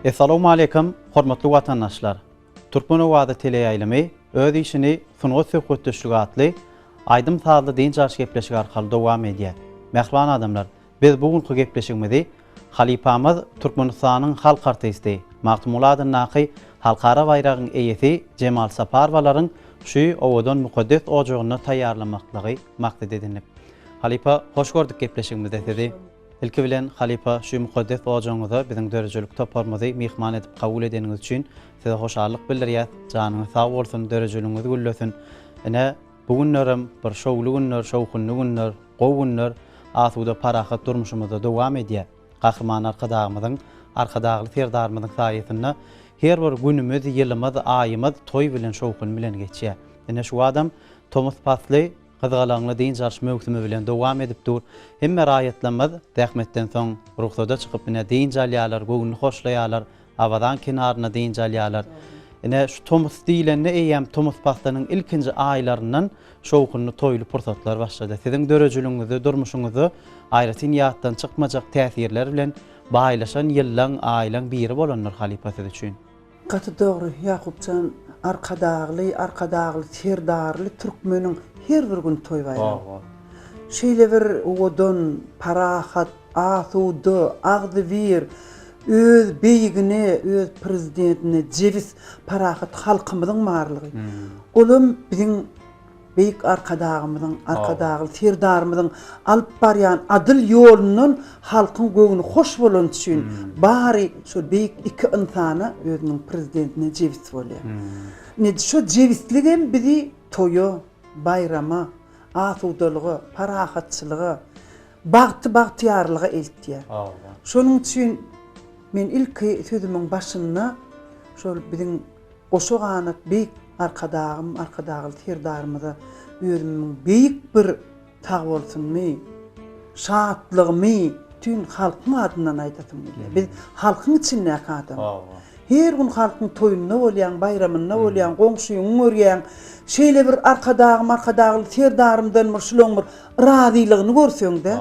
Essalamu aleýkum, hormatly watandaşlar. Türkmen owazy teleýaýlymy öz işini sungat söhbetdeşligi atly aýdym-sazly dynç alyş gepleşigi arkaly dowam edýär. Mähriban adamlar, Biz bu günki gepleşigimizi halypamyz Türkmenistanyň halk artisti, Magtymguly adyndaky halkara baýragyň eýesi Jemal Saparowalaryň şu owadan mukaddes ojagynda taýýarlamaklygy maksat edindik. Halypa, hoş gördük gepleşigimizde sizi. Ilki bilen, halypa, şu mukaddes ojagyňyza biziň döredijilik toparymyzy myhman edip kabul edeniňiz üçin size hoşallyk bildirýäs. Janyňyz sag bolsun, döredijiligiňiz güllesin. Ine, Bu günlerem bir şowly günler, şowhunly günler, gowy günler asuda parahat durmuşymyzda dowam edýär. Gahryman Arkadagymyzyň, Arkadagly Serdarymyzyň saýasynda her bir günümiz, ýylymyz, aýymyz toý bilen, şowhun bilen geçýär. Ine şu badam tomus pasly gyzgalaňly dynç alyş möwsümi bilen dowam edip dur. Hemme raýatlarymyz zähmetden soň rugsada çykyp ine dynç alýarlar, göwnüni hoşlaýarlar, Awadan kenarynda dynç alýarlar. Ine, şu tomus diýlende eýýäm tomus paslynyň ilkinji aýlaryndan şowhunly toýly pursatlar başlady. Siziň döredijiligiňizde, durmuşyňyzda aýratyn ýatdan çykmajak täsirler bilen baýlaşan ýyllaň, aýlaň biri bolandyr halypa siz üçin. Gaty dogry, Ýakup jan, Arkadagly, Arkadagly, Serdarly türkmeniň her bir güni toý-baýram. Şeýle bir owadan, parahat, Asuda, agzybir, öz beýigine, öz Prezidentine jebis, parahat halkymyzyň barlygy, olam biziň Beýik Arkadagymyzyň, Arkadagly Serdarymyzyň alyp barýan adyl ýolundan halkyň göwni hoş bolany üçin bary şol beýik iki ynsana, özüniň Prezidentine jebis bolýar. Ine, şo jebisligem bizi toýa, baýrama, asudalyga, parahatçylyga, Bagty bagtyýarlyga eltýär. Şonuň üçin men ilki sözümiň başynda şol biziň goşa ganat beýik Arkadagym, Arkadagly Serdarymyza özümiň beýik bir sagbolsunymy, şatlygymy bütin halkyň adyndan aýdasym gelýär. Biz halkyň içindäki adam. Her gün halkyň toýunda bolýaň, baýramynda bolýaň, goňşyňy görýäň. Şeýle bir Arkadagym, Arkadagly Serdarymdan bir şulaň bir Razylygyny görseňdä.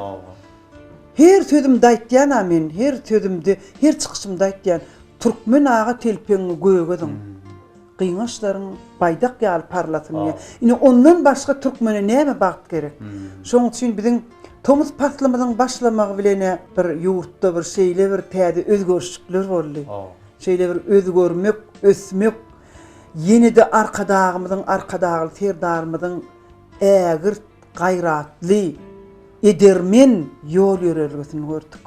Her sözümde aýtýana men her sözümde her çykyşymda aýtýan Türkmen aga telpegiňi gögeziň gyňaçlaryň baýdak ýaly parlasyn diýýän. Ine ondan başga türkmene näme bagt gerek. Şoň üçin biziň tomus paslymyzyň başlamagy bilen bir ýurtda bir şeýle bir täze özgerişlikler boldy. Şeýle bir özgermek, ösmek ýene-de Arkadagymyzyň Arkadagly Serdarymyzyň ägirt gaýratly, edermen ýol-ýörelgesini gördük.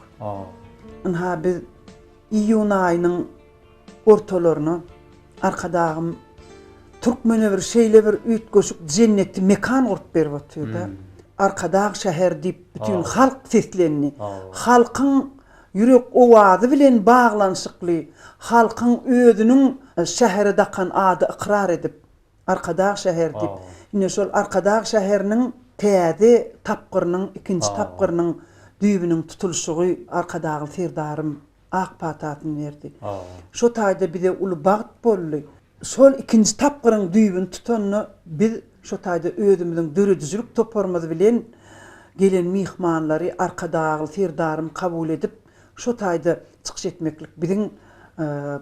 Ynha, biz iýun aýynyň ortalaryna Arkadagym türkmene bir şeýle bir üýtgeşik jenneti mekan gurup berip otyr-da, Arkadag şäher diýip, bütin halk seslendi. Halkyň ýürek owazy bilen baglanyşykly, halkyň özüniň şähere dakan ady ykrar edip, Arkadag şäher diýip, ine şol Arkadag şäheriniň täze tapgyrynyň, ikinji tapgyrynyň düýbüniň tutulyşygy Arkadagly Serdarym ak patasyny berdi. Şo taýda bize uly bagt boldy. Şol ikinji tapgyryň düýbüni tutanda biz şo taýda özümiziň döredijilik toparymyz bilen gelen myhmanlary Arkadagly Serdarym kabul edip, şo taýda çykyş etmeklik biziň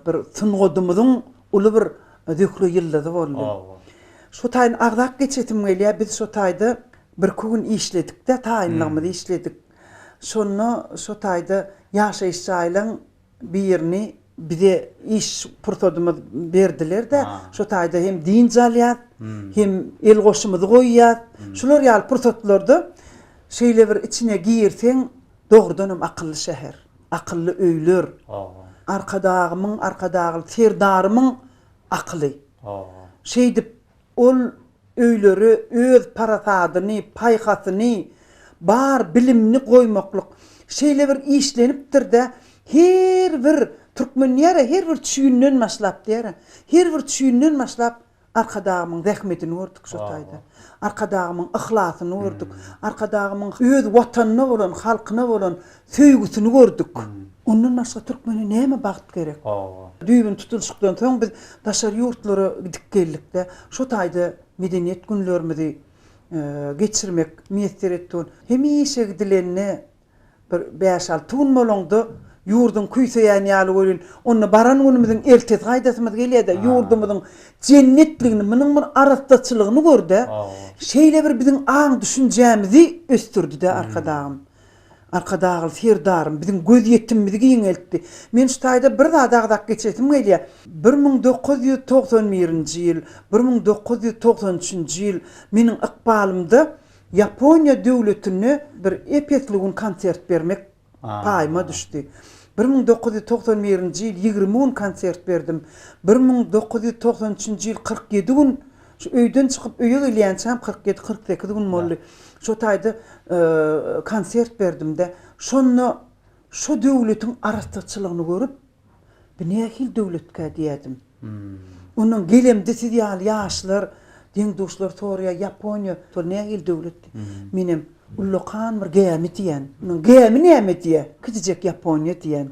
bir sungadymyzyň uly bir Zühre ýyldyzy boldy. Şu taýyny agzap geçesim gelýär, biz şo taýda birki gün işledik-de, taýynlygymyzy işledik. Şonda şo taýda ýaşaýyş jaýlaň birini bize iş pursadymyz berdiler-de, şo taýda hem dynç alýas, hem el goşumyzy goýýas. Şular ýaly pursatlarda şeýle bir içine girseň, dogrudanam akylly şäher. akylly öýler, Arkadagymyň, Arkadagly Serdarymyň akyly. Şeýdip, ol öýlere öz parasadyny, paýhasyny, bar bilimini goýmaklyk şeýle bir işlenipdir-de, her bir türkmen diýer-ä, her bir çüýünden başlap diýer-ä, her bir çüýünden başlap Arkadagymyň zähmetini gördük şo taýda. Arkadagymyň yhlasyny gördük. Arkadagymyň öz Watanyna bolan, halkyna bolan söýgüsini gördük. Ondan başga türkmene näme bagt gerek? Düýbüni tutulyşykdan soň biz daşary ýurtlara gidip geldik-de, şo taýda Medeniýet günlerimizi geçirmek miýesser etdi. Hemişe gidilende Bir bäş-alty gün bolaňda, ýurduň küýseýän ýaly welin, onda baran günümiziň ertesi gaýdasymyz gelýär-de, ýurdumyzyň jennetligini, munuň bir arassaçylygyny gör-de, şeýle bir biziň aň-düşünjämizi ösdürdi-de Arkadagym. Arkadagly Serdarym biziň gözýetimimizi giňeltdi. Men şu taýda bir zady agzap geçesim gelýär. Bir müň dokuz ýüz togsan birinji ýyl, bir müň dokuz ýüz togsan üçünji ýyl meniň ykbalymda Ýaponiýa döwletinde bir epesli gün konsert bermek paýyma düşdi. Bir müň dokuz ýüz togsan birinji ýyl ýigrimi gün konsert berdim. Bir müň dokuz ýüz togsan üçünji ýyl kyrk ýedi gün, şu öýden çykyp öýe gelýänçäm kyrk ýedi, kyrk sekiz gün boldy. Şo taýda konsert berdim-de, şonda şo döwletiň arassaçylygyny görüp, Bu nähili döwletkä diýädim. Ondan gelemde siz ýaly ýaşlar, deň-duşlar soraýar, Ýaponiýa şol nähili döwlet diýip. Menem, ullakan bir gämi diýen. Munuň gämi näme diýýär. Kiçijek Ýaponiýa diýen.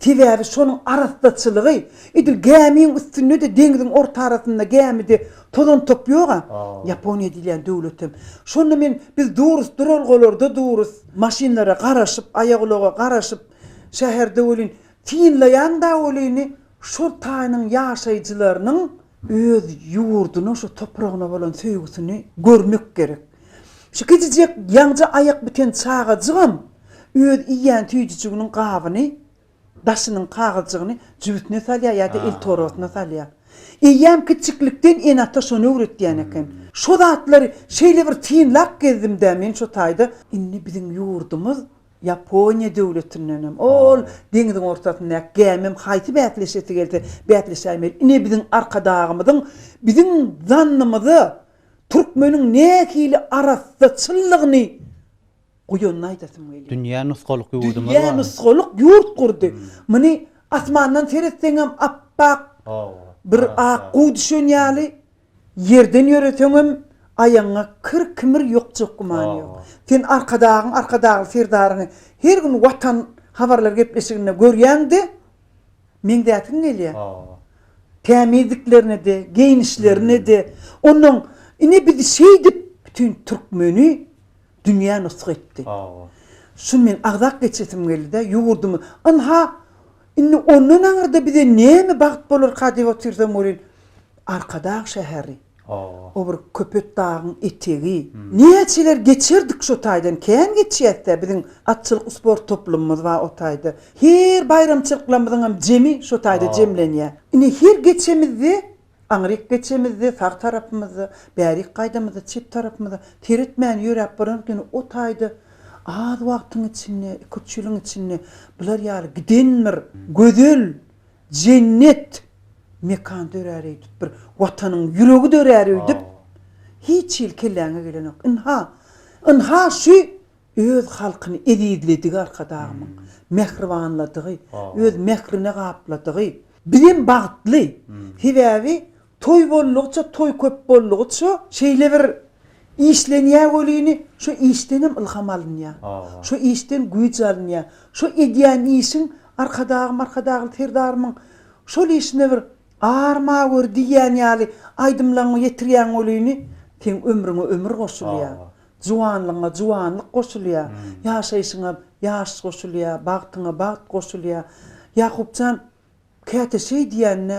Sebäbi şonuň arassaçylygy. Edil gämiň üstünde-de, deňziň orta arasynda gämide tozan-top ýog-a. Ýaponiýa diýilýän döwletem. Şonda men, biz durus, duralgalarda durus. Maşynlara garaşyp, aýagulaga garaşyp, Şäherde welin, synlaýan dagy welini şol taýynyň ýaşaýjylarynyň öz ýurduna, şu topragyna bolan söýgüsini görmek gerek. Şu kiçijek ýaňja aýak biten çagajygam öz iýýän süýjüjiginiň gabyny, daşynyň kagyzjygyny jübüsine salýar ýa-da eltorbasyna salýar. Eýýäm kiçijiklikden ene-ata şony öwretýän eken. Şo zatlary şeýle bir synlap gezdim-dä men şo taýda. Indi biziň ýurdumyz Ýaponiýa döwletindenem, ol deňziň ortasyndaky gämem haýsy bäsleşesi gelse bäsleşäýmeli. Ine biziň Arkadagymyzyň biziň zannymyza türkmeniň nähili arassa, çyllygyny guýanyny aýdasym gelýär. Dünýä nusgalyk ýurdumyz bar. Dünýä nusgalyk ýurt gurdy. Muny asmandan seretseňem apbak bir ak guw düşen ýaly. Ýerden ýöreseňem, aýagyňa kir-kimir ýokjak gümany ýok. Sen Arkadagyň, Arkadagly Serdaryňy her gün Watan habarlar gepleşiginde görýäň-de, meňzäsiň gelýär. Tämizliklerine-de, geýnişlerine-de. Onuň, Ine biz şeýdip, bütin türkmeni dünýä nusga etdik. Şuny men agzap geçesim geldi-de, ýurdumy, ynha, Indi ondan aňyrda bize näme bagt bolarka diýip otursam welin, Arkadag şäheri, o bir Köpetdagyň etegi. Näçeler geçerdik şo taýdan, kän geçýäs-dä, biziň atçylyk sport toplumymyz bar o taýda. Her baýramçylyklarymyzyňam jemi şo taýda jemlenýär. Indi her geçemizde Aňryk geçemizde sag tarapymyzda, bärik gaýdamyzda çep tarapymyzda, seretmän ýöräp baranok ýöne o taýda az wagtyň içinde, iki-üç ýylyň içinde bular ýaly giden bir gözel, jennet mekan dörär öýdüp, bir Watanyň ýüregi dörär öýdüp hiç hili kelläňe gelenok. Ynha, ynha şu Öz halkyny ezizledigi Arkadagymyň, mähribanladygy, öz mährine gapladygy. Bizem bagtly, sebäbi toý boldugyça, toý köp boldugyça şeýle bir işlenýär welini, şo işdenem ylham alynýar. Şo işden güýç alynýar. Şo edýän işiň Arkadagym, Arkadagly Serdarymyň şol işine bir Arma gör diýýän ýaly aýdymlaňy ýetirýäň welini, seň ömrüňe ömür goşulýar. Juwanlygyňa juwanlyk goşulýar, ýaşaýşyňa ýaş goşulýar, bagtyňa bagt goşulýar. Ýakup jan, käte şeý diýende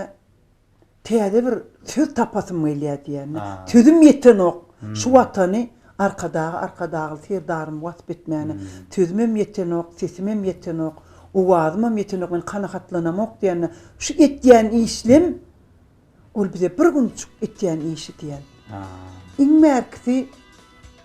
täze bir söz tapasym gelýär diýende, sözüm ýetenok. Şu Watany Arkadagy Arkadagly Serdarymy wasp etmäne sözümem ýetenok, sesimem ýetenok, owazymam ýetenok, men kanagatlanamok diýende, şu etýän işlim Ol bize bir günjük etýän işi diýen. Iň bärkisi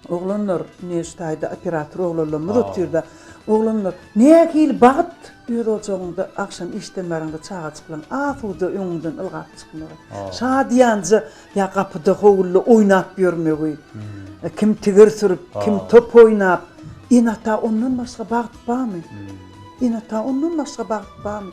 oglanlar neştaýda operator oglanlarymyz otyrda. Oglanlar, nähili bagt öz ojagyňda agşam işden baryňda çagajyklaň asuda öňüňden ylgap çykmagy. Şadyýanja ýa gapyda howulda oýnap ýörmegi. Kim tigir sürüp, kim top oýnap. Ene-ata ondan başga bagt barmy? Ene-ata ondan başga bagt barmy?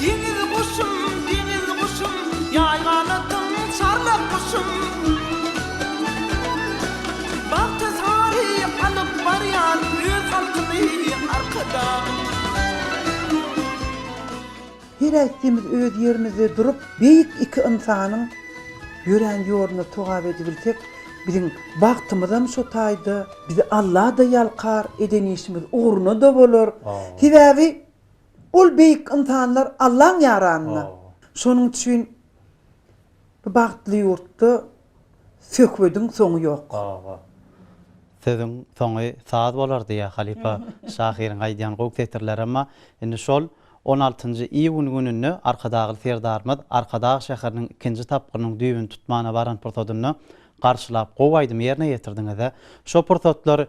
Deňiz guşum, deňiz guşum, ýaý ganatyň çarlak guşum. Bagtyzary alyp barýar öz halkyny arkadan. Her äýtdimiz öz ýerimizde durup beýik iki ynsanyň ýörän ýoluna togap edibilsek biziň bagtymyzam şo taýda bizi Allada ýalkar eden işimiz ugruna da bolar sebäbi Ol beýik ynsanlar Allaň ýaranyna. Şonuň üçin bu bagtly ýurtda söhbediň soňy ýok. Sözüň soňy saz bolar diýýär halypa şahyryň aýdýan gowy setirleri emma indi şol on altynjy iýun gününde Arkadagly Serdarymyz Arkadag şäheriniň ikinji tapgyrynyň düýbüni tutmana baran pursadynda garşylap gowy aýdym ýerine ýetirdiňiz-ä. Şo pursatlar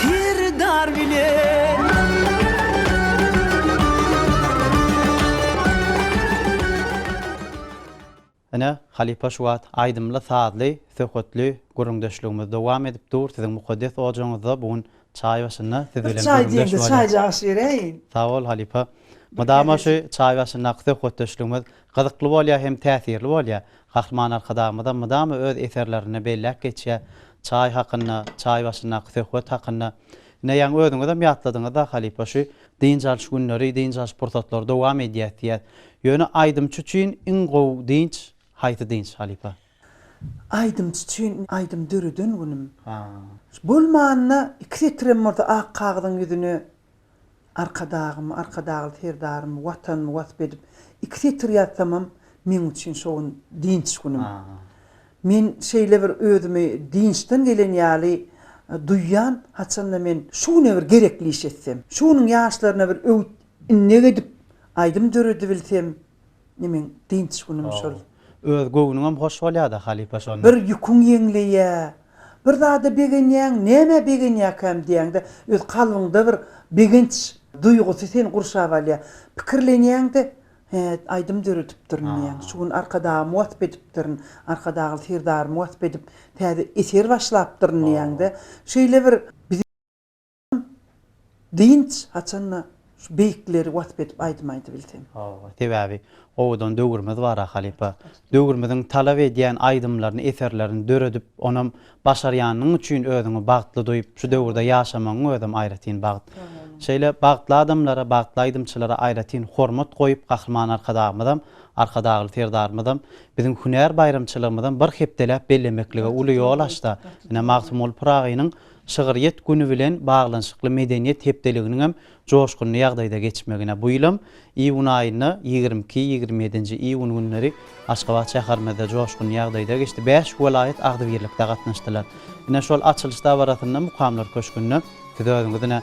Serdar bilen. Ine, halypa şu wagt aýdymly, sazly, söhbetli gürrüňdeşligimiz dowam edip dur. Siziň mukaddes ojagyňyzda bu gün çaý başynda siz bilen gürrüňdeş bolýas. Bir çaý diýeňde çaýjagaş bereýin. Sag bol halypa. Mydama şu çaý başyndaky söhbetdeşligimiz Gyzykly bolýar hem täsirli bolýar. Gahryman Arkadagymyzam mydama öz eserlerinde belläp geçýär, çaý hakynda, çaý başyndaky söhbet hakynda. Ine, ýaňy özüňizem ýatladyňyz-da, halypa, şu dynç alyş günleri, dynç alyş pursatlary dowam edýär diýýär. Ýöne aýdymçy üçin iň gowy dynç haýsy dynç, halypa? Aýdymçy üçin aýdym döreden günüm. Bolmanda iki setirem bolsa ak kagyzyň ýüzüne Arkadagym, Arkadagly Serdarym, Watanymy wasp edip iki setir ýazsamam meň üçin şo gün dynç günüm. Men şeýle bir özümi dynçdan gelen ýaly duýýan, haçanda men şu güne bir gerekli iş etsem, şu günüň ýaşlaryna bir öwüt-innek edip aýdym döredibilsem, nemeň dynç günümi şol. Öz göwnüňem hoş bolýada halypa şonda. Bir ýüküň ýeňleýä, bir zada begenýäň, nämä begenýäkäm diýýäňde, öz kalbyňda bir begenç duýgusy seni gurşap alýa. Pikirlenýäňde, He, aýdym döredipdirin diýýäň. Şu gün Arkadagym wasp edipdirin, Arkadagly Serdarymy wasp edip, täze eser başlapdyryn diýýäňde, şeýle bir. Dynç haçanda şu beýikleri wasp edip aýdym aýdybilseň. Hawa, sebäbi owadan döwrümiz bar-a halypa. Döwrümiziň talap edýän aýdymlaryny, eserlerini döredip, onam başarýanyň üçin özüňi bagtly duýup, şu döwürde ýaşamagyň özem aýratyn bagt. Şeýle bagtly adamlara, bagtly aýdymçylara aýratyn hormat goýup, Gahryman Arkadagymyzam, Arkadagly Serdarymyzam biziň hünär baýramçylygymyzam bir hepdeläp bellemeklige uly ýol açdy. Ine, Magtymguly Pyragynyň Şygryýet güni bilen baglanyşykly medeniýet hepdeliginiň hem joşgunly ýagdaýda geçmegine bu ýylam iýun aýynda ýigrimi iki, ýigrimi ýedinji iýun günleri Aşgabat şäherimizde joşgunly ýagdaýda geçdi. Bäş welaýat agzybirlikde gatnaşdylar. Ine, şol açylyş dabarasynda Mukamlar köşgünde siz özüňiz ine,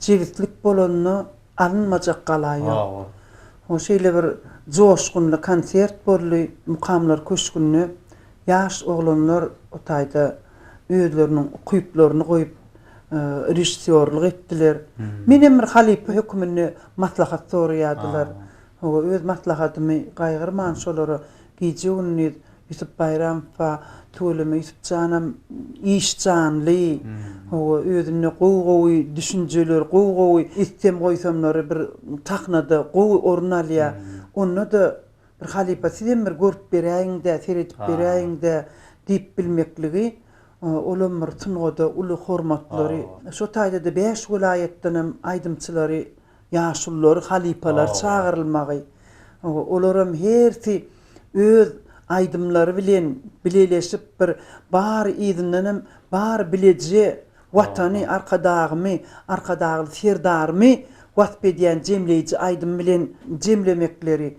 Jebislik bolanda alynmajak gala ýok. Ho şeýle bir joşgunly konsert boldy Mukamlar köşgünde. Ýaş oglanlar o taýda özleriniň ukyplaryny goýup režissýorlyk etdiler. Menem bir halypa höküminde maslahat soraýardylar. Howa öz maslahatymy gaýgyrman şolara gije-gündiz Ýusup Baýramowa tüweleme Ýusup janam iş janly hawa özünde gowy gowy düşünjeler gowy gowy istem goýsamlary bir sahnada gowy orun alýa onda-da bir halypa sizem bir görüp beräýiňdä seredip beräýiňdä diýip bilmekligi olam bir sungada uly hormatlary şo taýda-da bäş welaýatdanam aýdymçylary Ýaşululary, halypalary çagyrylmagy, olaram hersi öz aýdymlary bilen bileleşip bir bary yzyndan hem bary bileje Watany, Arkadagymy, Arkadagly Serdarymy wasp edýän jemleýji aýdym bilen jemlemekleri,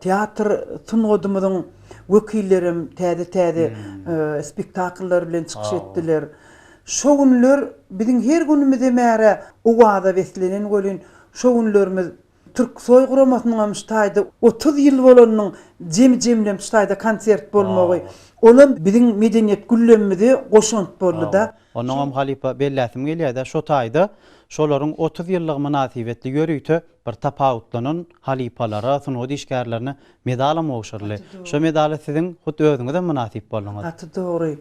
Teatr sungadymyzyň wekillerem täze-täze spektakllar bilen çykyş etdiler. Şo günler biziň her günümizem ärä owaza beslenen welin, şo günlerimiz Türksoý guramasynyňam şu taýda otuz ýyl bolanynyň jemi-jemlem şu taýda konsert bolmagy, olam biziň medeniýet güllemimize goşant boldy-da. Onnoňam halypa belläsim gelýär-de, şo taýda şolaryň otuz ýyllygy mynasybetli ýörite bir tapawutlanan halypalara, sungat işgärlerine medalam gowşuryldy. Şo medala siziň hut özüňizem mynasyp bolduňyz. Gaty dogry.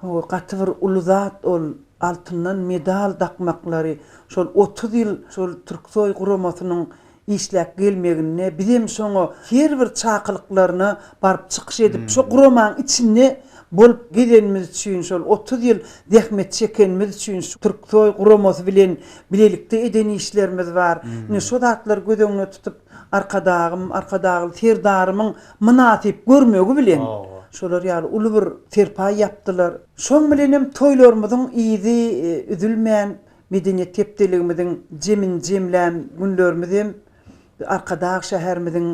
Hawa, gaty bir uly zat ol. Altyndan medal dakmaklary. Şol otuz ýyl şol Türksoý guramasynyň işläp gelmeginde bizem şoňa her bir çakylyklaryna baryp çykyş edip, şo guramanyň içinde bolup gezenimiz üçin, şol otuz ýyl zähmet çekenimiz üçin, Türksoý guramasy bilen bilelikde eden işlerimiz bar. Ine, şo zatlary göz öňüne tutup, Arkadagym, Arkadagly Serdarymyň mynasyp görmegi bilen, şolar ýaly uly bir serpaý ýapdylar. Şoň bilen hem toýlarymyzyň yzy üzülmän, medeniýet hepdeligimiziň jemini-jemlän günlerimiz hem Arkadag şäherimiziň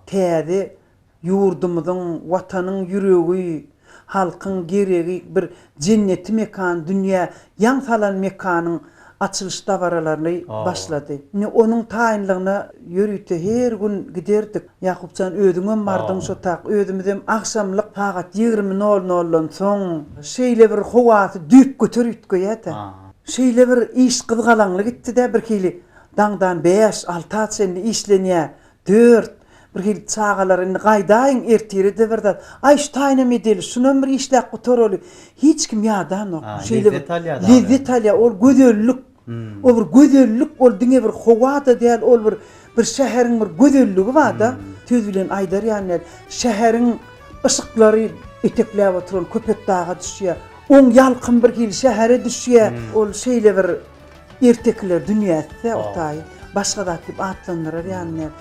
täze Ýurdumyzyň, Watanyň ýüregi, halkyň geregi bir jenneti mekan, dünýä ýaň salan mekanyň açylyş dabaralaryny başlady. Indi onuň taýynlygyna ýörite her gün giderdik. Ýakup jan, özüňem bardyň şo tak. Özümizem agşamlyk sagat ýigrimi nol noldan soň şeýle bir howasy düýpgöter üýtgeýär-de. Şeýle bir iş gyzgalaňly gitdi-de, birhili daňdan bäş, alta çenli işlenýär. Dört, Birhili çagalar indi gaýdaýyň, ertire-de bir zat. Aý, şu taýynam edeli, şunam bir işläp gutaraly. Hiç kim ýadanok. A, Şeýle bir lezzet alýar dagy. lezzet alýar. Ol gözellik. O bir gözellik, ol diňe bir howa-da däl, ol bir bir şäheriň bir gözelligi bar-da. Söz bilen aýdar ýaly däl. Şäheriň yşyklary etekläp oturan Köpetdaga düşýär. Oň ýalkym birhili şähere düşýär. Ol şeýle bir Ertekiler dünýäsi-de o taýy başga zat diýip atlandyrar ýalyndyrlar.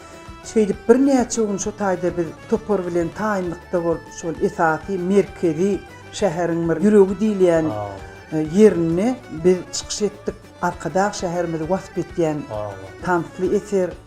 Şeýdip birnäçe gün şo taýda biz topar bilen taýynlykda bolup, şol esasy merkezi şäheriň bir ýüregi diýilýän ýerinde biz çykyş etdik. Arkadag şäherimizi wasp etýän tansly eser.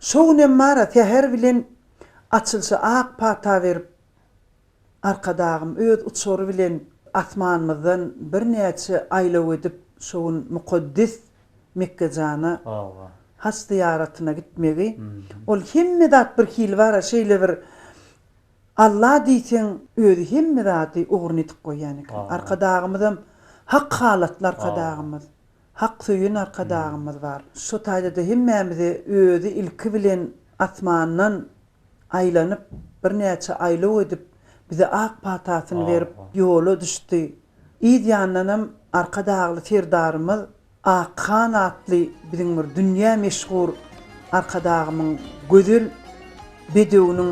Şo günem bar-a säher bilen açylyşa ak pata berip, Arkadagym öz uçary bilen asmanymyzdan birnäçe aýlaw edip, şo gün mukaddes Mekgejana haç zyýaratyna gitmegi, ol hemme zat birhili bar-a, şeýle bir Alla diýseň, özi hemme zady ugruny edip goýýan eken. Arkadagymyzam hak halatly Arkadagymyz. Hak söýen Arkadagymyz bar. Şu taýda-da hemmämize özi ilki bilen asmandan aýlanyp, birnäçe aýlaw edip, bize ak patasyny berip, ýola düşdi. Yz ýandanam Arkadagly Serdarymyz Akhan atly biziň bir dünýä meşhur Arkadagymyň gözel bedewiniň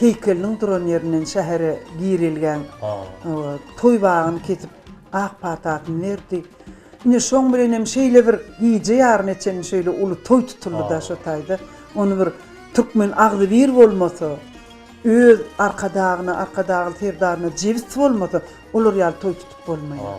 heýkeliniň duran ýerinden şähere girelgäň toý bagyny kesip, ak patasyny berdi. Ine, şoň bilen hem şeýle bir gije ýaryna çenli şeýle uly toý tutuldy-da şo taýda. Ony bir türkmen agzybir bolmasa, öz Arkadagyna, Arkadagly Serdaryna jebis bolmasa, olar ýaly toý tutup bolmaýar.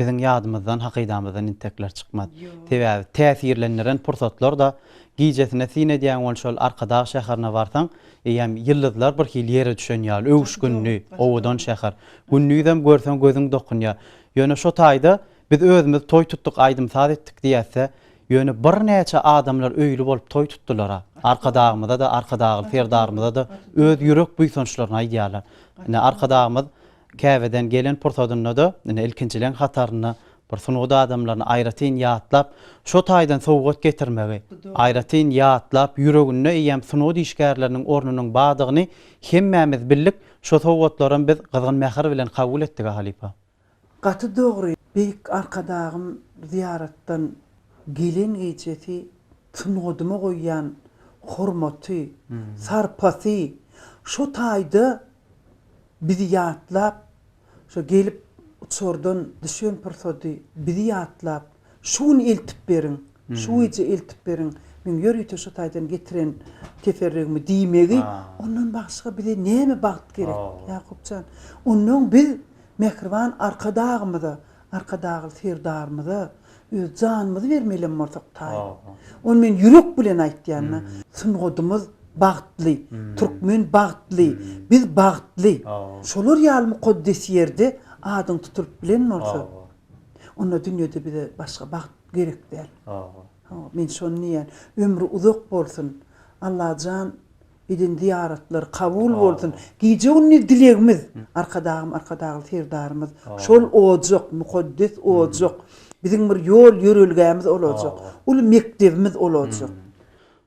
Biziň ýadymyzdan, hakydamyzdan intekler çykmaz. Sebäbi täsirlendiren pursatlar-da, gijesine syn edýäň ol şol Arkadag şäherine barsaň, eýýäm ýyldyzlar bir hili ýere düşen ýaly, öwüşginli, owadan şäher. Gündizem görseň gözüň dokunýar. Ýöne şo taýda biz özümiz toý tutduk, aýdym-saz etdik diýäs-dä, ýöne birnäçe adamlar öýli bolup toý tutdular-a. Arkadagymyza-da, Arkadagly Serdarymyza-da öz ýürek buýsançlaryny aýdýarlar. Ine, Arkadagymyz Käbeden gelen pursadynda-da, ine, ilkinjileriň hatarynda bir sungat adamlaryny aýratyn ýatlap, şo taýdan sowgat getirmegi, aýratyn ýatlap, ýüreginde eýýäm sungat işgärleriniň ornunyň bardygyny hemmämiz bildik, şo sowgatlaram biz gyzgyn mähir bilen kabul etdik-ä, halypa. Gaty dogry, beýik Arkadagym zyýaratdan gelen gijesi sungadyma goýýan hormaty, sarpasy şo taýda bizi ýatlap, şo gelip uçardan düşen pursady bizi ýatlap, şu gün eltip beriň, şu gije eltip beriň, meň ýörite şu taýdan getiren teferrügimi diýmegi, ondan başga bize näme bagt gerek, Ýakup jan? Onnoň biz Mähriban Arkadagymyza, Arkadagly Serdarymyza öz janymyzy bermeli hem bolsak taýyn. Ony men ýürek bilen aýtýan. Sungadymyz bagtly, türkmen bagtly, biz bagtly. Şolar ýaly mukaddes ýerde adyň tutulyp bilen bolsa, onda dünýede bize başga bagt gerek däl. Men şony diýýän. Ömri uzak bolsun. Allajan Eden zyýaratlary kabul bolsun. Gije gündiz dilegimiz Arkadagym Arkadagly Serdarymyz şol ojak, mukaddes ojak, biziň bir ýol ýörelgämiz olajak, uly mekdebimiz olajak.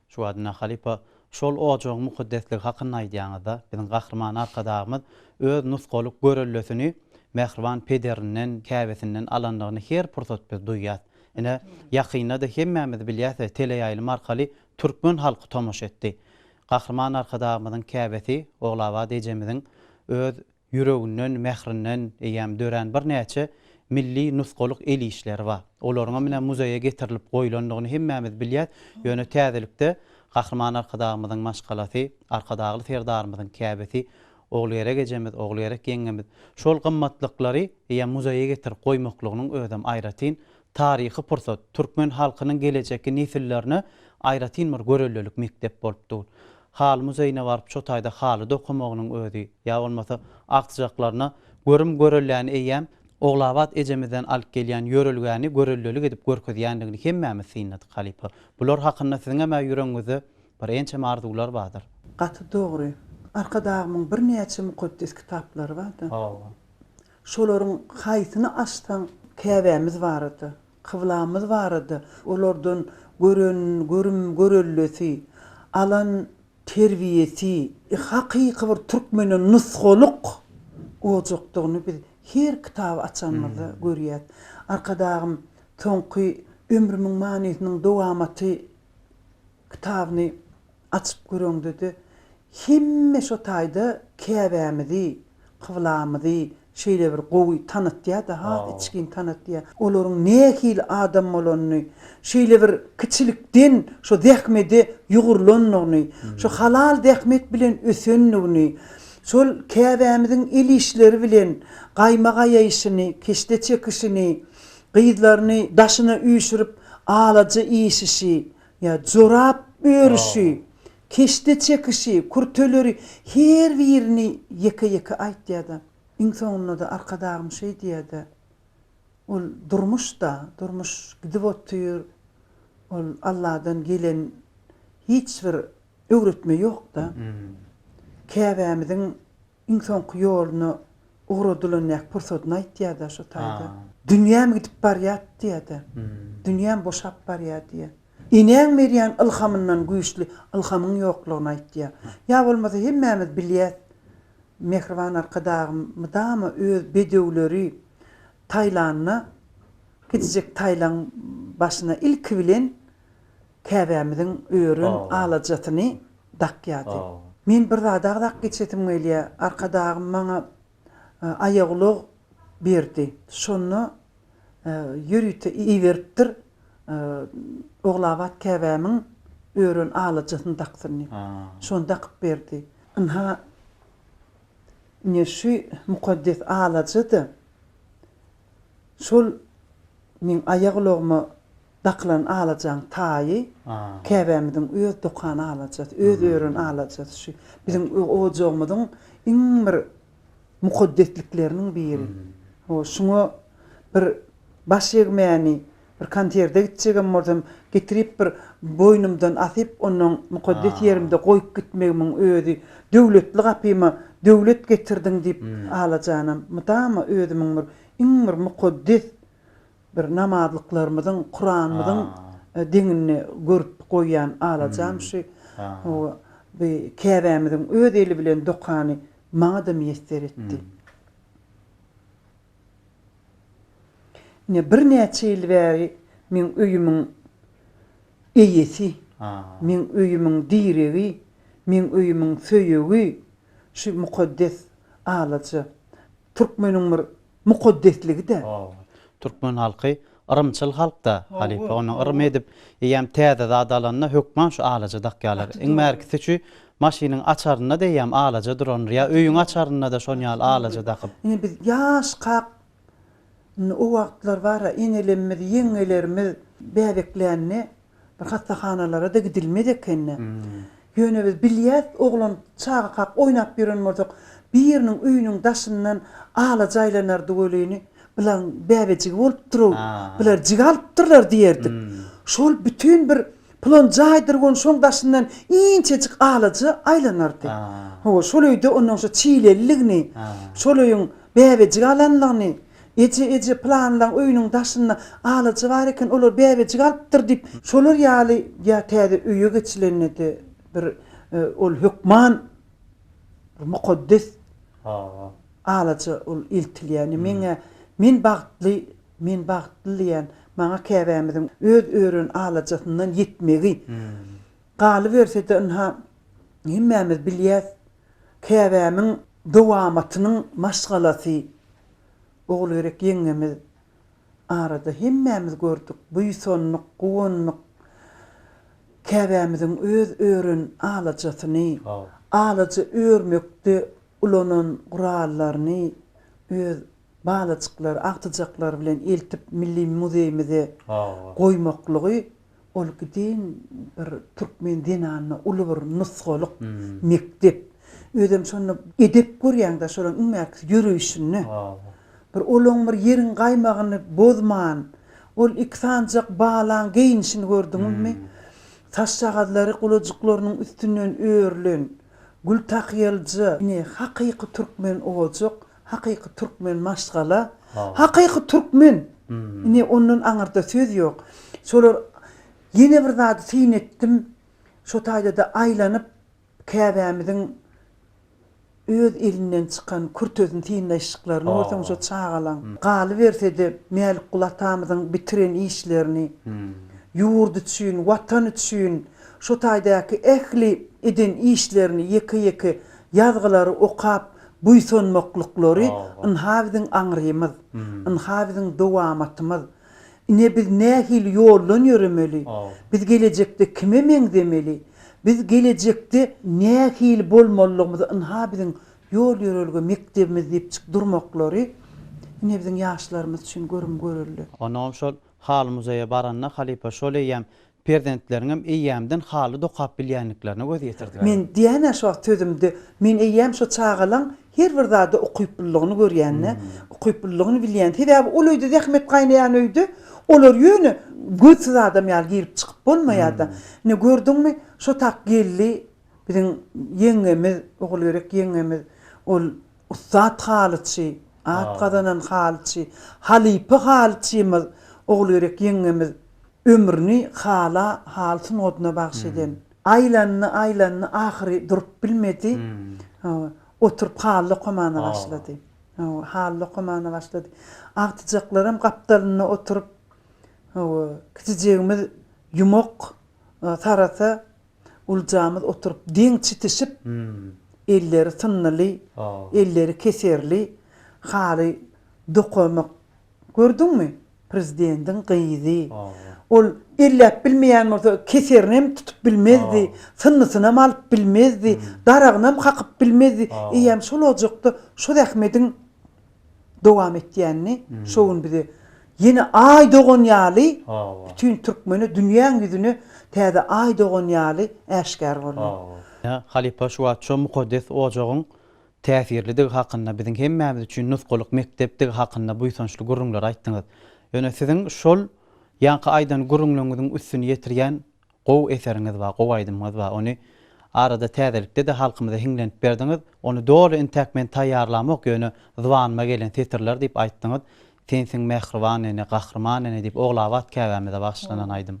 Şu wagtynda halypa şol ojagyň mukaddesligi hakynda aýdýaňyzda, biziň Gahryman Arkadagymyz öz nusgalyk göreldesini mähriban pederinden, käbesinden alandygyny her pursat biz duýýas. Ine, ýakynda-da hemmämiz bilýäs we teleýaýlym arkaly Türkmen halky tomaşa etdi. Gahryman Arkadagymyzyň käbesi Ogulabat ejemiziň öz ýüreginden, mährinden eýýäm dörän birnäçe milli nusgalyk el işleri bar. Olaryňam ine muzeýe getirilip goýlandygyny hemmämiz bilýäs. Ýöne täzelikde Gahryman Arkadagymyzyň maşgalasy, Arkadagly Serdarymyzyň käbesi Ogulgerek ejemiz, Ogulgerek ýeňňemiz şol gymmatlyklary eýýäm muzeýe getirip goýmaklygynyň özem aýratyn Taryhy pursat, türkmen halkynyň gelejekki nesillerine aýratyn bir görellelik mekdep bolup dur. Haly muzeýine baryp şo taýda haly dokamagynyň özi, ýa bolmasa agtyjaklaryna görüm görelläni eýýäm Ogulabat ejemizden alyp gelýän ýörelgäni görellelik edip görkezýändigini hemmämiz synladyk halypa. Bular hakynda siziňem-ä ýüregiňizde bir ençeme arzuwlar bardyr. Gaty dogry. Arkadagymyň birnäçe mukaddes kitaplary bar-da. Hawa. Şolaryň haýsyny açsaň, Käbämiz barada, kyblamyz barada, olardan gören görüm-görellesi, alan terbiýesi, hakyky bir türkmene nusgalyk ojakdygyny biz her kitaby açanymyzda görýäs. Arkadagym soňky Ömrümiň manysynyň dowamaty kitabyny açyp göreňde-de, Hemme şo taýda Käbämizi, kyblamyzy şeýle bir gowy tanatýar-da, has içgin tanatýar. Olaryň nähili adam bolanyny, şeýle bir kiçilikden şo zähmede ýugrulandygyny, şo halal zähmet bilen ösendigini, şol Käbämiziň el işleri bilen gaýma gaýaýşyny, keşde çekişini, gyzlaryny daşyna üýşürip alaja işişi, Ýa jorap örüşi, keşde çekişi, kürteleri her birini ýeke-ýeke aýtýar-da, iň soňunda-da Arkadagym şeý diýýär-de, Ol durmuş-da, durmuş gidip otyr, ol Alladan gelen hiç bir öwretme ýok-da. Käbämiziň Iň soňky ýoluna ugradylanyäk pursadyny aýtýa-da şo taýda. Dünýäm gidip barýat diýä-de. Dünýäm boşap barýa diýä. Enäň berýän ylhamyndan güýçli ylhamyň ýoklugyny aýtýa. Ýa bolmasa hemmämiz bilýäs, Mähriban Arkadagym mydama öz bedewleri Taýlanda gidijek Taýlaň başyna ilki bilen Käbämiziň örän alajasyny dakýardy. Men bir zady agzap geçesim gelýär. Arkadagym maňa aýagulag berdi. Şonda ýörite iberipdir Ogulabat käbämiň örän alajasyny daksyn diýip. Şony dakyp berdi. Ynha, ine şu mukaddes alaja-da şol meň aýagulagyma Dakylan alajaň taýy käbämiziň öz dokan alajasy, öz ören alajasy şu. Biziň ojagymyzyň iň bir mukaddeslikleriniň biri. Ho, şuňa bir baş egmäni, bir konserde gitjegem bolsam, getirip bir boýnumdan asyp, onnoň mukaddes ýerimde goýup gitmegimiň özi, Döwletli gapyma döwlet getirdiň diýip, alajanam mydama özümiň bir iň bir mukaddes Bir namazlyklarymyzyň, Kuranymyzyň deňinde görüp goýýan alajam şu. Bu Käbämiziň öz eli bilen dokany maňa-da miýesser etdi. Ine, birnäçe ýyl bäri meň öýümiň eýesi, meň öýümiň diregi, meň öýümiň söýegi şu mukaddes alaja. Türkmeniň bir mukaddesligi-dä. Türkmen halky yrymçyl halk-da, halypa, ony yrym edip, eýýäm täze zat alanda hökman şu alaja dakýarlar. Iň bärkisi çü maşynyň açarynda-da eýýäm alaja durandyr, ýa öýüň açarynda-da şon ýaly alaja dakyp. Ine biz ýaşkak, indi o wagtlar bar-a, enelemmiz, ýeňňelerimiz bäbeklände Bir hassahanalara-da gidilmez ekeni. Ýöne biz bilýäs, oglan çagakak oýnap ýören bolsak, biriniň öýüniň daşyndan alaja aýlanardy welini, Bularyň bäbejigi bolupdyr-ow, bular jigi alypdyrlar diýerdik. Şol bütin bir Pylon jaýdyr welin şoň daşyndan inçejik alaja aýlanardy. Hawa, şol öýde onnoň şu çileliligini, şol öýüň bäbejigi alanlygyny Eje, eje, pylanlaň öýüniň daşynda alaja bar eken, olar bäbejik alypdyr diýip, şolar ýaly ýa täze öýe geçilende-de bir ol hökman bir mukaddes alaja ol eltilýär. Indi meň-ä, men bagtly, men bagtly diýýän, maňa käbämiziň öz ören alajasyndan ýetmegi. Galyberse-de ynha, hemmämiz bilýäs. Käbämiň dowamatynyň maşgalasy Ogulgerek ýeňňemiz arada hemmämiz gördük, buýsandyk, guwandyk. Käbämiziň öz ören alajasyny, alaja örmekde ulanan gurallaryny öz balajyklary, agtyjaklary bilen eltip milli muzeýimize goýmaklygy, Ol giden bir türkmen zenanyna uly bir nusgalyk mekdep. Özem şonda edep görýäň-dä şolaryň iň bärkisi ýöreýşinde. Bir olaň bir ýeriň gaýmagyny bozman, ol iki sanjak balaň geýnişini gördüňizmi? Saçjagazlary gulajyklarynyň üstünden örülen, gültakyýalyja. Ine, hakyky türkmen ojak. Hakyky Türkmen maşgala Hakyky Türkmen ine ondan aňyrda söz ýok şolar ýene bir zady syn etdim şo taýdada aýlanyp käbämiziň öz elinden çykan kürtesini synlaýşyklaryny görseň şo çagalaň galybersede Mälikguly atamyzyň bitiren işlerini ýurt üçin watan üçin şo taýdaky ähli eden işlerini ýeke ýeke ýazgylary okap Buýsanmaklyklary ynha biziň aňrymyz, ynha biziň dowamatymyz. Ine biz nähili ýoldan ýöremeli, biz gelejekde kime meňzemeli, biz gelejekde nähili bolmalydygymyzy ynha biziň ýol-ýörelge mekdebimiz diýipjik durmaklary ine biziň ýaşlarymyz üçin görüm-görelde. Onam şol Haly muzeýe baranda halypa şol eýýäm Perzentleriňem eýýämden haly dokap bilýänliklerine göz ýetirdiler. Men diýän-ä şu wagt sözümde, men eýýäm şu çagalaň her bir zada ukyplylygyny görýän-ä, ukyplylygyny bilýän. Sebäbi ol öýde zähmet gaýnaýan öýde olar ýöne gözsüz adam ýaly girip-çykyp bolmaýar-da. Ine, gördüňmi, şo tak geldi biziň ýeňňemiz, Ogulgerek ýeňňemiz, ol ussat halyçy, at gazanan halyçy, halypa halyçymyz Ogulgerek ýeňňemiz Ömrüni hala haly sungatyna bagş eden. Aýlandy, aýlandy, ahyry durup bilmedi. Oturyp haly dokamana başlady. Hawa, haly dokamana başlady. Agtyjaklaram gapdalynda oturyp, hawa, kiçijegimiz ýumak tarasa, uljamyz oturyp deň çitişip, elleri synlyly, elleri keserli haly dokamak Gördüňmi, prezidentiň gyzy. Ol elläp bilmeýän bolsa, keserinem tutup bilmezdi, synnysynam alyp bilmezdi, daragynam kakyp bilmezdi. Eýýäm şol ojakda şu zähmediň dowam etýänini şo gün bize ýene Aý dogan ýaly bütin türkmene, dünýäň ýüzüne täze Aý dogan ýaly äşgär boldy. Halypa şu wagt şo mukaddes ojagyň täsirlidigi hakynda, biziň hemmämiz üçin nusgalyk mekdepdigi hakynda buýsançly gürrüňleri aýtdyňyz. Ýöne siziň şol ýaňky aýdan gürrüňleriňiziň üstüni ýetirýän gowy eseriňiz bar, gowy aýdymyňyz bar. Ony arada täzelikde-de halkymyza hiňlenip berdiňiz. Ony doly intäk men taýýarlamok, ýöne zybanyma gelen setirler diýip aýtdyňyz. Sensiň mähriban ene, gahryman ene diýip Ogulabat käbämize bagyşlanan aýdym.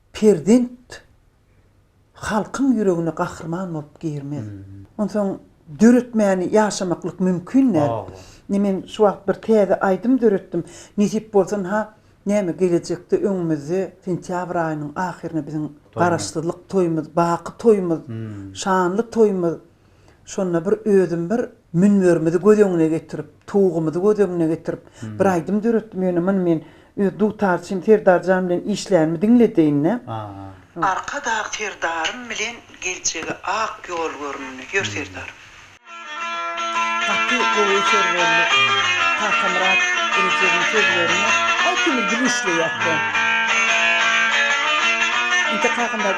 Perzent halkyň ýüregine gahryman bolup girmez. Onsoň döretmäni ýaşamaklyk mümkin däl. Ine men şu wagt bir täze aýdym döretdim. Nesip bolsa ha näme gelejekde öňümizde sentýabr aýynyň ahyryna biziň Garaşsyzlyk toýumyz, baky toýumyz, şanly toýumyz. Şonda bir özüm bir münberimizi göz öňüne getirip, towugymyzy göz öňüne getirip, bir aýdym döretdim. Ýöne muny men öz dutarçym Serdarjan bilen işlänimi diňledeýin-dä. Arkadag Serdarym bilen geljege ak ýol göründi. Ýör Serdar. Gaty gowy eser boldy. Takamyrat Rejebiň sözlerine aýtymly dil işleýäs-dä. Inte kakam-da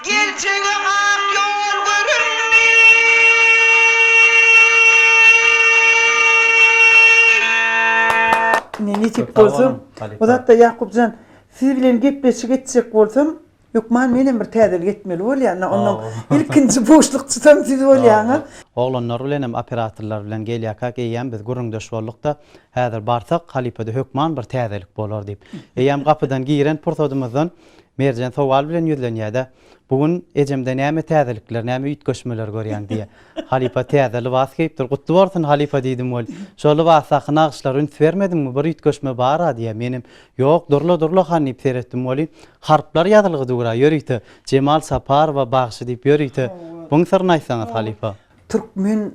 Geljege ak ýol göründi. Ine nesip bolsa, bu zatda Ýakup jan, siz bilen gepleşik etjek bolsam, hökman menem bir täzelik etmeli bolýan-a, onnoň ilkinji buşlukçysam siz bolýaňyz. Oglanlar bilenem, operatorlar bilen gelýärkäk, eýýäm biz gürrüňdeş bolduk-da, häzir barsak, halypada hökman bir täzelik bolar diýip. Eýýäm gapydan giren pursadymyzdan. Merjen sowal bilen ýüzlenýär-de, Bu gün ejemde näme täzelikler, näme üýtgeşmeler görýäň? diýýär. Halypa täze lybas geýipdir. Gutly bolsun, halypa diýdim weli. Şo lybasdaky nagyşlara üns bermediňmi? Bir üýtgeşme bar-a, diýýär. Menem, Ýok, durla, durla han diýip seretdim weli. Harplar ýazylgy dur-a, ýörite, Jemal Saparowa bagşy diýip ýörite. Buň syryny aýtsaňyz, halypa. Türkmen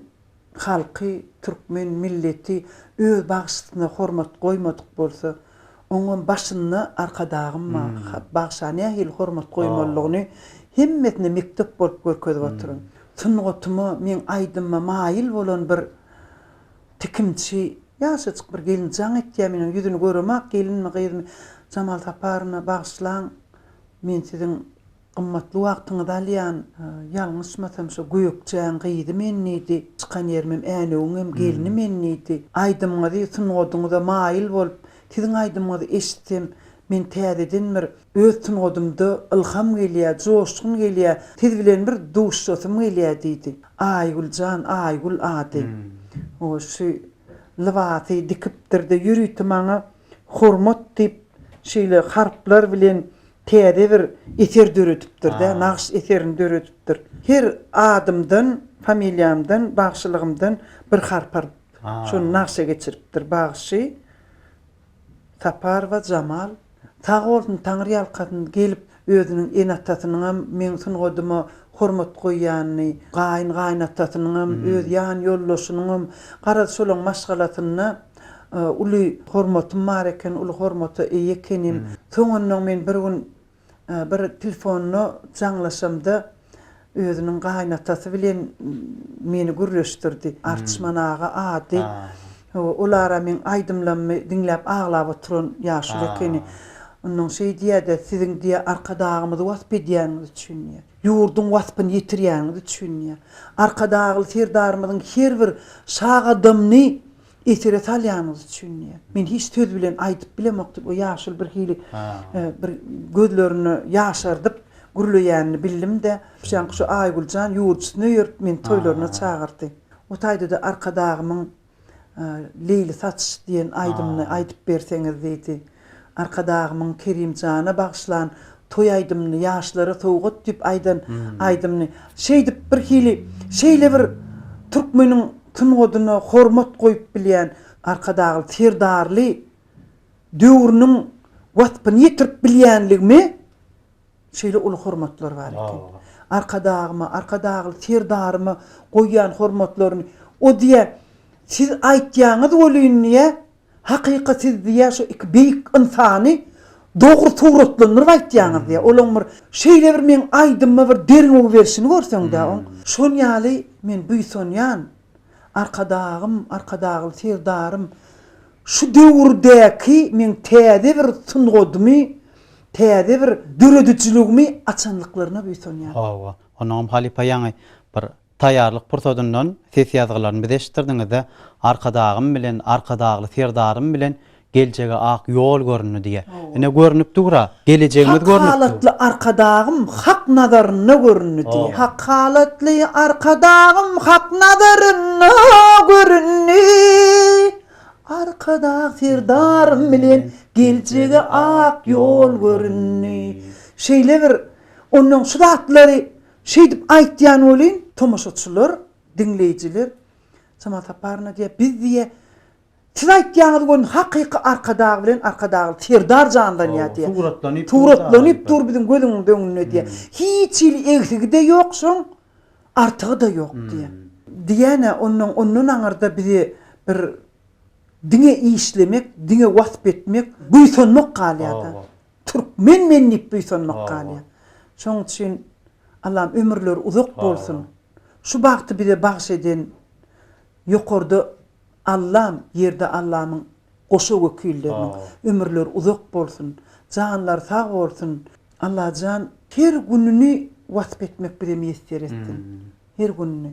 halky, türkmen milleti öz bagşysyna hormat goýmadyk bolsa, oňam başynda Arkadagym bar. Bagşa nähili hormat goýmalydygyny hemmesine mekdep bolup görkezip otyryn. Sungatyma, meň aýdymyma maýyl bolan bir tikimçi, ýaşajyk bir gelin jaň etýär, men onuň ýüzüni göremok, gelinmi, gyzmy, Jamal Saparowyna bagyşlaň, men siziň Gymmatly wagtyňyzy alýan. Ýalňyşmasam şo Gökjäň gyzy men diýdi. Çykan ýerimem Änewiňem gelni men diýdi. Aýdymyňyzy sungadyňyza maýyl bolup siziň aýdymyňyzy eşitsem men täzeden bir öz sungadymda ylham gelýä, joşgun gelýä, siz bilen bir duşasym gelýä diýdi. Aýgül jan Aýgül ady. Oý şu lybasy dikipdir-de ýörite maňa hormat diýip şeýle harplar bilen Täze bir eser döredipdir-dä, nagyş eserini döredipdir. Her adymdan, familiýamdan, bagşylygymdan bir harp alyp, şony nagşa geçiripdir. Bagşy Saparowa Jamal sag bolsun, taňryýalkasyn, gelip özüniň ene-atasynyňam meň sungadyma hormat goýýanyny, gaýyn-gaýynatasynyňam, öz ýan ýoldaşynyňam, garaz, şolaň maşgalasynda Uly hormatym bar eken, uly hormata eýe ekenim. Soňundan men bir gün bir telefonda jaňlaşamda özüniň gaýynatasy bilen meni gürleşdirdi. Arçman aga ady. Ol ara meň aýdymlarymy diňläp aglap oturan ýaşuly ekeni. Ondan şeý diýýärdi, Siziň diýýär Arkadagymyzy wasp edýäniňiz üçin diýýär. Ýurduň waspyny ýetirýäniňiz üçin diýýär. Arkadagly Serdarymyzyň her bir şa gadamyny Esere salýanyňyz üçin diýýär. Men hiç söz bilen aýdyp bilemok diýip, o ýaşuly birhili bir gözlerini ýaşardyp, gürleýänini bildim-de, Şuşaňky şu Aýgül jan ýurjysyny öýerip, meni toýlaryna çagyrdy. O taýda-da Arkadagymyň Leýli saç diýen aýdymyny aýdyp berseňiz diýdi. Arkadagymyň Kerimjana bagyşlan toý aýdymyny, ýaşlara sowgat diýip aýdan aýdymyny şeýdip birhili şeýle bir türkmeniň sungatyna hormat goýup bilýän Arkadagly Serdarly döwrüniň waspyny ýetirip bilýänligimi şeýle uly hormatlar bar eken. Arkadagyma, Arkadagly Serdaryma goýýan hormatlaryny o diýýä siz aýtýaňyz welin diýýä, Hakyka siz diýýär şu iki beýik ynsany dogry suratlandyryp aýtýaňyz diýýär. Olaň bir şeýle bir meň aýdymyma bir derňew berşini görseňdä oň. Şol ýaly men buýsanýan Arkadagym, Arkadagly Serdarym şu döwürdäki meň täze bir sungadymy, täze bir döredijiligimi açandyklaryna buýsanýan. Hawa, onuňam halypa ýaňy bir Taýýarlyk pursadyndan ses ýazgylaryny bize eşitdirdiňizde, Arkadagym bilen, Arkadagly Serdarym bilen geljege ak ýol göründi diýýär. Ine, görnüp dur-a, gelejegimiz görnüp dur. Hak halatly Arkadagym Hak nazarynda göründi diýýär. Hak halatly Arkadagym Hak nazarynda göründi. Arkadag Serdarym bilen geljege ak ýol göründi. Şeýle bir onnoň şu zatlary Şeýdip aýtýan welin, tomaşaçylar, diňleýjiler, Çamal Saparowyna diýýär, biz diýýär, siz aýtýaňyz welin, hakyky Arkadag bilen Arkadagly Serdar janlanýar diýýär. Suratlanyp dur. Suratlanyp dur biziň gözümiň öňünde diýýär. Hiç hili egsigi-de ýok şoň, artygy-da ýok diýýär. Diýýän-ä, onnoň ondan aňyrda bizi bir diňe işlemek, diňe wasp etmek, buýsanmak galýar-da. Türkmen men diýip buýsanmak galýar. Şoň üçin Allam ömürleri uzak bolsun. Şu bagty bize bagş eden ýokarda Allam, ýerde Allamyň goşa wekilleriniň ömürleri uzak bolsun. Janlary sag bolsun. Allajan her gününi wasp etmek bize miýesser etsin. Her gününi.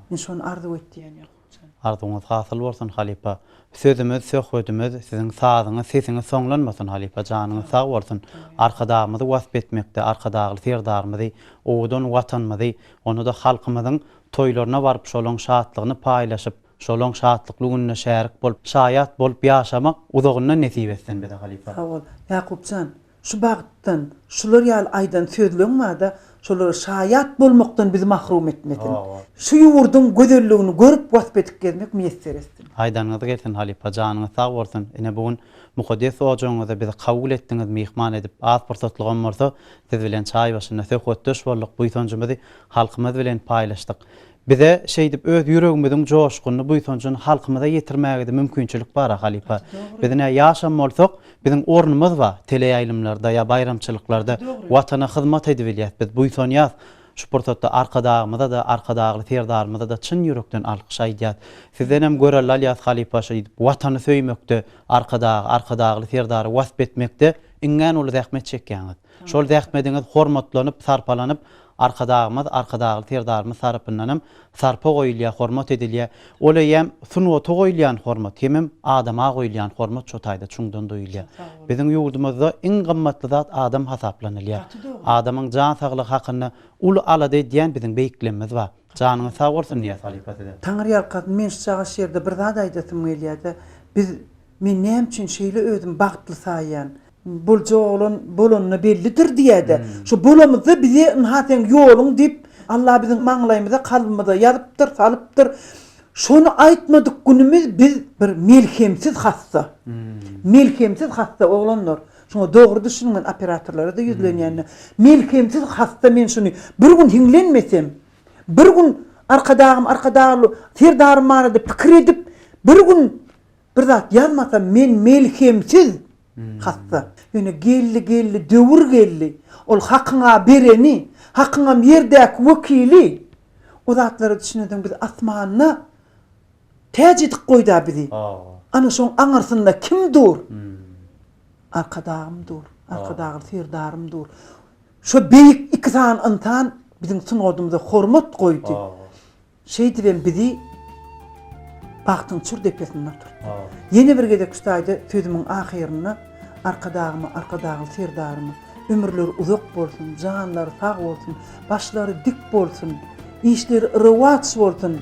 Men şony arzuw etýän. Arzuwyňyz hasyl bolsun halypa. Sözümiz söhbedimiz siziň sazyňyz sesiňiz soňlanmasyn halypa janyňyz sag bolsun arkadagymyzy wasp etmekde arkadagly serdarymyzy owadan watanymyzy onada halkymyzyň toýlaryna baryp şolaň şatlygyny paýlaşyp şolaň şatlykly gününe şärik bolup şaýat bolup ýaşamak uzagyndan nesip etsin bize halypa. Sag bol Ýakupjan. Şu bagtdan, şular ýaly aýdan sözleň bada şolara şaýat bolmakdan bizi mahrum etmesin. Şu ýurduň gözelligini görüp wasp edip gezmek miýesser etsin. Aýdanyňyz gelsin halypa janyňyz sag bolsun ine bu gün mukaddes ojagyňyza bizi kabul etdiňiz myhman edip az pursatlygam bolsa siz bilen çaý başynda söhbetdeş bolduk buýsanjymyzy halkymyz bilen paýlaşdyk Bize şeýdip öz ýüregimiziň joşgunyny, buýsanjyny halkymyza ýetirmägede mümkinçilik bar-a, halypa. Biz nä ýaşam bolsak, biziň ornumyz bar, teleýaýlymlarda ýa baýramçylyklarda Watana hyzmat edibilýäs, biz buýsanýas. Şu pursatda Arkadagymyza-da, Arkadagly Serdarymyza-da çyn ýürekden alkyş aýdýas. Sizdenem görelde alýas, halypa, şeýdip Watany söýmekde, Arkadagy, Arkadagly Serdary wasp etmekde iňňän uly zähmet çekýäňiz. Şol zähmediňiz hormatlanyp, sarpalanyp, Arkadagymyz, Arkadagly Serdarymyz tarapyndan hem sarpa goýulýar, hormat edilýär. Ol eýýäm sungata goýulýan hormat, hemem adama goýulýan hormat şo taýda çuňdan duýulýar. Biziň ýurdumyzda iň gymmatly zat adam hasaplanylýar. Adamyň jan saglygy hakynda uly alada edýän biziň beýiklemimiz bar. Janyňyz sag bolsun Nyýaz halypa size. Taňyrýalkasyn men şu çaga şu ýerde bir zat aýdasym gelýärde biz men näme üçin şeýle özüm bagtly saýýan. Bolja oglan bolanyna bellidir diýäýdä. Şo bolamyzda bize ynha seň ýoluň diýip, Alla biziň maňlaýymyza, kalbymyza ýazypdyr, salypdyr. Şony aýtmadyk günümiz biz bir melhemsiz hassa. Melhemsiz hassa oglanlar. Şuňa dogry düşüniň men operatorlara-da ýüzlenýände. Melhemsiz hassa men şuny bir gün hiňlenmesem, bir gün Arkadagym Arkadagly Serdarym barada pikir edip, bir gün Bir zat ýazmasam men melhemsiz hassa. Ýöne geldi geldi döwür geldi. Ol hakyň-a bereni, hakyňam ýerdäki wekili. O zatlara düşünensoň biz asmanda täç edip goýda bizi. Ana şoň aňyrsynda kim dur? Arkadagym dur. Arkadagly Serdarym dur. Şo beýik iki sany ynsan biziň sungadymyza hormat goýdy. Şeýdibem bizi bagtyň çür depesinde oturtdy. Ýene bir gezek şu taýda sözümiň ahyrynda Arkadagyma, Arkadagly Serdaryma ömürleri uzak bolsun, janlary sag bolsun, başlary dik bolsun, işleri rowaç bolsun!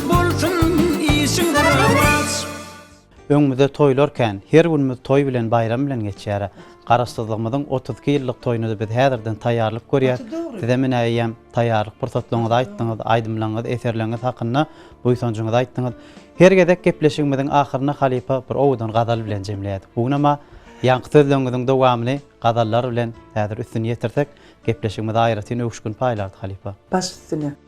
Bolsun işiň rowaç. Öňümizde toýlar kän. Her günümiz toý bilen, baýram bilen geçýär. Garaşsyzlygymyzyň otuz iki ýyllyk toýuna-da biz häzirden taýýarlyk görýäs. Size menä eýýäm taýýarlyk pursatlaryňyzy aýtdyňyz, aýdymlaňyz, eserleňiz hakynda buýsanjyňyzy aýtdyňyz. Her gezek gepleşigimiziň ahyryny halypa bir owadan gazal bilen jemleýärdik. Bu günem-ä ýaňky sözleriňiziň dowamyny gazallar bilen häzir üstüni ýetirsek, gepleşigimize aýratyn öwüşgin paýlardy halypa. Baş üstüne.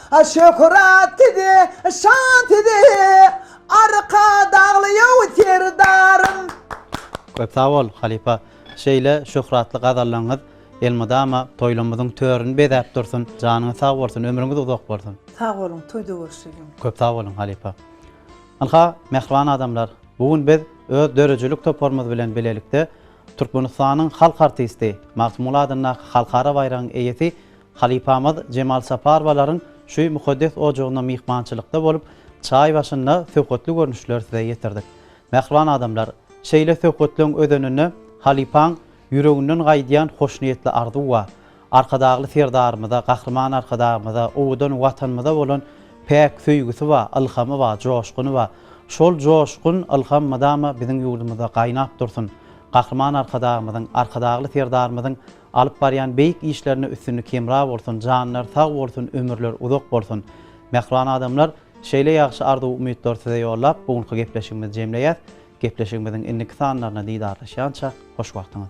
Şöhrat size, şan size, Arkadagly ýow serdarym! Köp sag bol, halypa! Şeýle şöhratly gazallaryňyz elmydama toýlarymyzyň törüni bezäp dursun! Janyňyz sag bolsun, ömrüňiz uzak bolsun! Sag boluň, toýda görüşelim! Köp sag boluň, halypa! Ynha, mähriban adamlar, bu gün biz öz döredijilik toparymyz bilen bilelikde Türkmenistanyň halk artisti, Magtymguly adyndaky halkara baýragyň eýesi Halypamyz Jemal Saparowalaryň şu mukaddes ojagynda myhmançylykda bolup, çaý başynda söhbetli görnüşleri size ýetirdik. Mähriban adamlar, şeýle söhbetleň özeninde halypaň ýüreginden gaýdýan hoşniýetli arzuwa, Arkadagly Serdarymyza, Gahryman Arkadagymyza, owadan Watanymyza bolan päk söýgüsi ba, ylhamy ba, joşguny ba. Şol joşgun, ylham mydama biziň ýurdumyzda gaýnap dursun. Gahryman Arkadagymyzyň, Arkadagly Serdarymyzyň Alyp barýan beýik işlerinde üstünlik hemra bolsun janlar sag bolsun ömürler uzak bolsun Mähriban adamlar şeýle ýagşy arzuw umytlar size ýollap bu günki gepleşigimizi jemleýäs gepleşigimiziň indiki sanlaryna didarlaşýança hoş wagtyňyz.